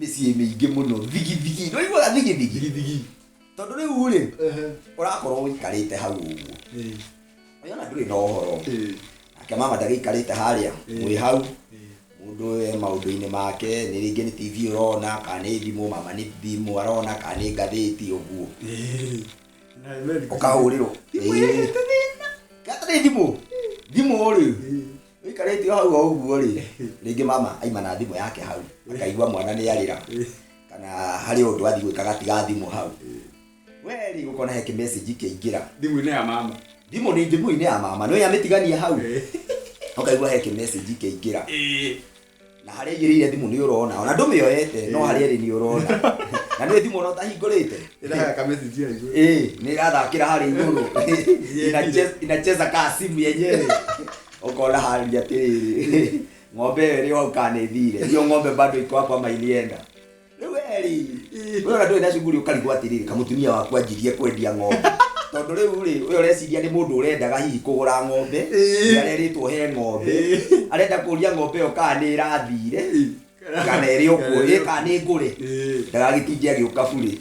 mĩciĩ mĩingĩ mũno thigithigi nĩ ũiguaga thigithigi thigithigi tondũ rĩu rĩ ehe ũrakorwo ũikarĩte hau ũguo eh, ũyona ndũrĩ na ũhoro eh, nake mama ndagĩikarĩte harĩa mwĩ hau eh, mũndũ e maũndũ-inĩ make nĩ rĩngĩ nĩ tv ũrona kana nĩ thimũ mama nĩ thimũ arona kana nĩ ngathĩti ũguo eh. Na Mary- ũkahũrĩrwo Thimũ ĩrĩa ĩrĩ thĩna. Gata nĩ thimũ thimũ rĩ Eh, wĩikarĩte o hau o ũguo rĩ rĩngĩ mama aima na thimũ yake hau akaigua mwana nĩ arĩra kana harĩ ũndũ athiĩ gwĩka agatiga thimũ hau we rĩ ũkona he kĩmessage kĩingĩra thimũ-inĩ ya mama thimũ nĩ njĩguinĩ ya mama nĩ amĩtigania hau ũkaigua he kĩmessage kĩingĩra na harĩa igĩrĩire thimũ nĩ ũrona ona ndũmĩoete no harĩa ĩrĩ nĩ ũrona na nĩ thimũ ona ũtahingũrĩte ĩraga kamesiji aigu Eh, nĩ ĩrathakĩra harĩa igũrũ Inache- inacheza kaa simu yenyewe ũkona harĩa atĩrĩrĩ ng'ombe ĩyo ĩrĩ hau kana ĩthire hiyo ng'ombe bado iko hapa ama ilienda rĩu weri we ona ndũrĩ na cuguri ũkarigwo atĩrĩrĩ kamutumia waku anjirie kwendia ng'ombe tondũ rĩu rĩ we ũreciria nĩ mũndũ ũrendaga hihi kũgũra ng'ombe nĩ arerĩtwo he ng'ombe arenda kũria ng'ombe ĩyo kana nĩ ĩrathire kana ĩrĩ ũkuo ĩ kana nĩ ngũre ndagagĩtinge agĩũka burĩ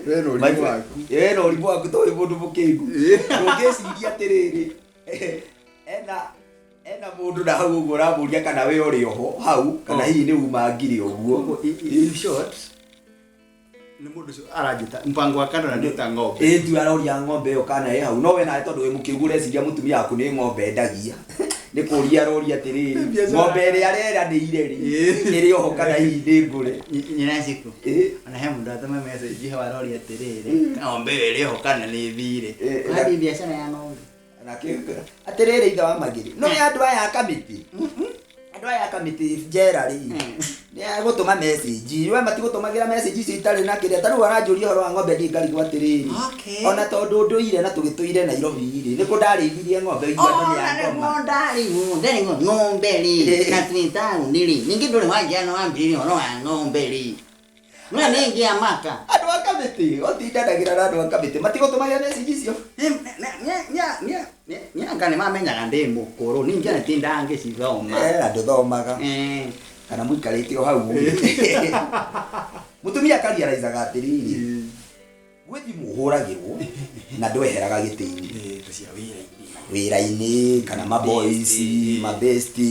we na ũrimũ waku we na ũrimũ waku tũĩ mũndũ mũkĩgu ndũngĩciria atĩrĩrĩ ena Ena mundu na hau uguo uramuria kana we uri oho hau kana hihi ni uma ngiri uguo. In short, ni mundu ucio aranjita mpango wa kando na ni ta ng'ombe. Ĩndu aroria ng'ombe ĩyo kana ĩ hau no we nawe tondũ wĩ mũkĩgu ũreciria mũtumia waku nĩ ng'ombe endagia nĩ kũria aroria atĩrĩrĩ Biacara. ng'ombe ĩrĩa areranĩire rĩ Ĩĩ. ĩrĩ oho kana hihi nĩ ngũre Nyina ciku. Ĩĩ. Ona he mundu atuma message hau aroria atiriri. Ng'ombe ĩyo ĩrĩ oho kana ni thire. Ĩĩ. Wathi biacara ya ng'ombe. agakĩhingũra atĩrĩrĩ ithe wa magĩrĩ no ya andũ aya a kamĩtĩ andũ aya a kamĩtĩ njera rĩ nĩ agũtũma message we matigũtũmagĩra message icio itarĩ na kĩrĩa tarĩu aranjũria ũhoro wa ng'ombe ndiĩ ngarigwo atĩrĩrĩ Okay. ona tondũ ndũire na tũgĩtũire nairobi rĩ nĩ kũ ndarĩithirie ng'ombe ũigua andũ nĩ ya ngoma ndarĩgwo ng'ombe rĩ na twĩ taũni rĩ ningĩ ndũrĩ wanjia na wambĩrĩria ũhoro wa ng'ombe rĩ Mwana ĩngĩ ya mata. Andũ a kamĩtĩ, ũtindanagĩra na andũ a kamĩtĩ, matigũtũmagĩra message icio. Nĩanga nĩmamenyaga ndĩ mũkũrũ, ningĩ nĩ tindangĩcithoma. Eh, na ndũthomaga. Eh. Kana mũikarĩte o hau. Mũtumia akariaraizaga atĩrĩrĩ. Gwĩ thimũ ũhũragĩrwo na ndweheraga gĩtĩ-inĩ wĩra-inĩ kana maboys mabesti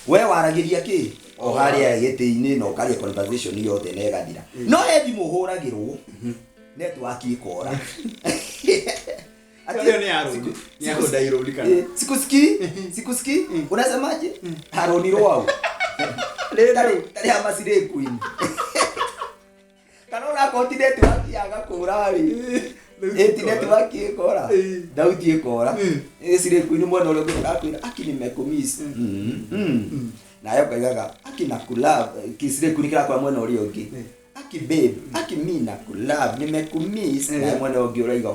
we waragĩria kĩ o harĩa gĩtĩ-inĩ na ũkaria conversation yothe na ĩgathira no he thimũ ũhũragĩrwo network ikora Ati- Hiyo ni Aroni. siku- Ni siku- Aroni Ironi kana. Eh, sikusikii sikusikii unasemaje haroni rwau Tari- tari ama sirekuini kana ona akorwo ti netiwaki yaga kũra-rĩ ĩti netiwaki ĩkora thauti ĩkora cirĩkuinĩ mwena ũrĩa ũngĩ ĩrakwĩra aki nimekumiss nayo ngaigaga aki na kulove cirĩkuinĩ kĩrakwĩra mwena ũrĩa ũngĩ aki babe aki mi na kulove nimekumiss nayo mwena ũyũ ũngĩ ũraiga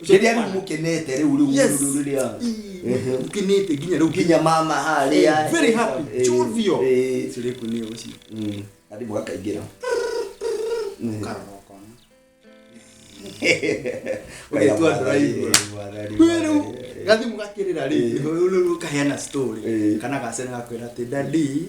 Kĩrĩa rĩu mũkenete rĩu rĩu Yes. rĩu rĩu rĩu. Ehe. ukinite nginya riu Nginya mama harĩa. Eh, very happy. Eh, Chuvio. eh, cire kuni ucio mm, Hadi mũgakaingĩra. Ũgĩtua drive. we riu gathimu gakirira ri riu kaheana story Eh. kana gacene gakwira ati dadi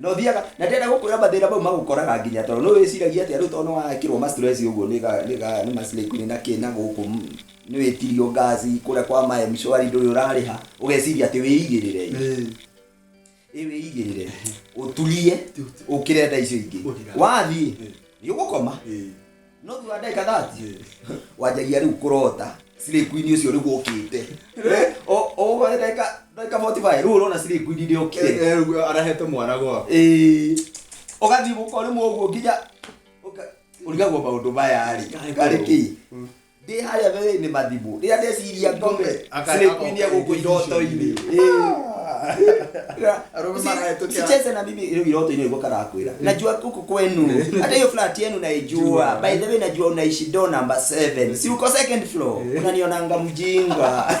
no thiaga na ndenda gukwira mathira mau magukoraga nginya tondu no wiciragia atia riu tondu no waekirwo ma stress uguo ni ga ni ga ni maslay queen na kina guku ni witirio ngazi kuria kwa ma mshwari nduri urariha ugeciria ati wiigirire ĩ wĩigĩrĩre ũtulie ũkĩre nda icio ingĩ wathiĩ nĩ ũgũkoma no thutha wa ndagĩka thati wanjagia rĩu kũrota Slay Queen ũcio rĩu ũkĩte O- o ũguo ndagĩka ndagĩka 45 rĩu ũrona Slay Queen nĩ ũkire arahete mwana gwa Ĩĩ, ũgathiĩ gũkorĩmwo ũguo nginya ũka- ũrigagwo maũndũ maya rĩ karĩ kĩ Ndĩ harĩa werũ-inĩ Mathibu. Rĩrĩa ndeciria ngome slay queen ĩ gũkũ iroto-inĩ. Usicheze na mimi rĩu iroto-inĩ nĩguo karakwĩra. Najua huku kwenu. Hata hiyo flat yenu naijua. By the way najua unaishi door number 7. Si uko second floor. Unanionanga mjinga.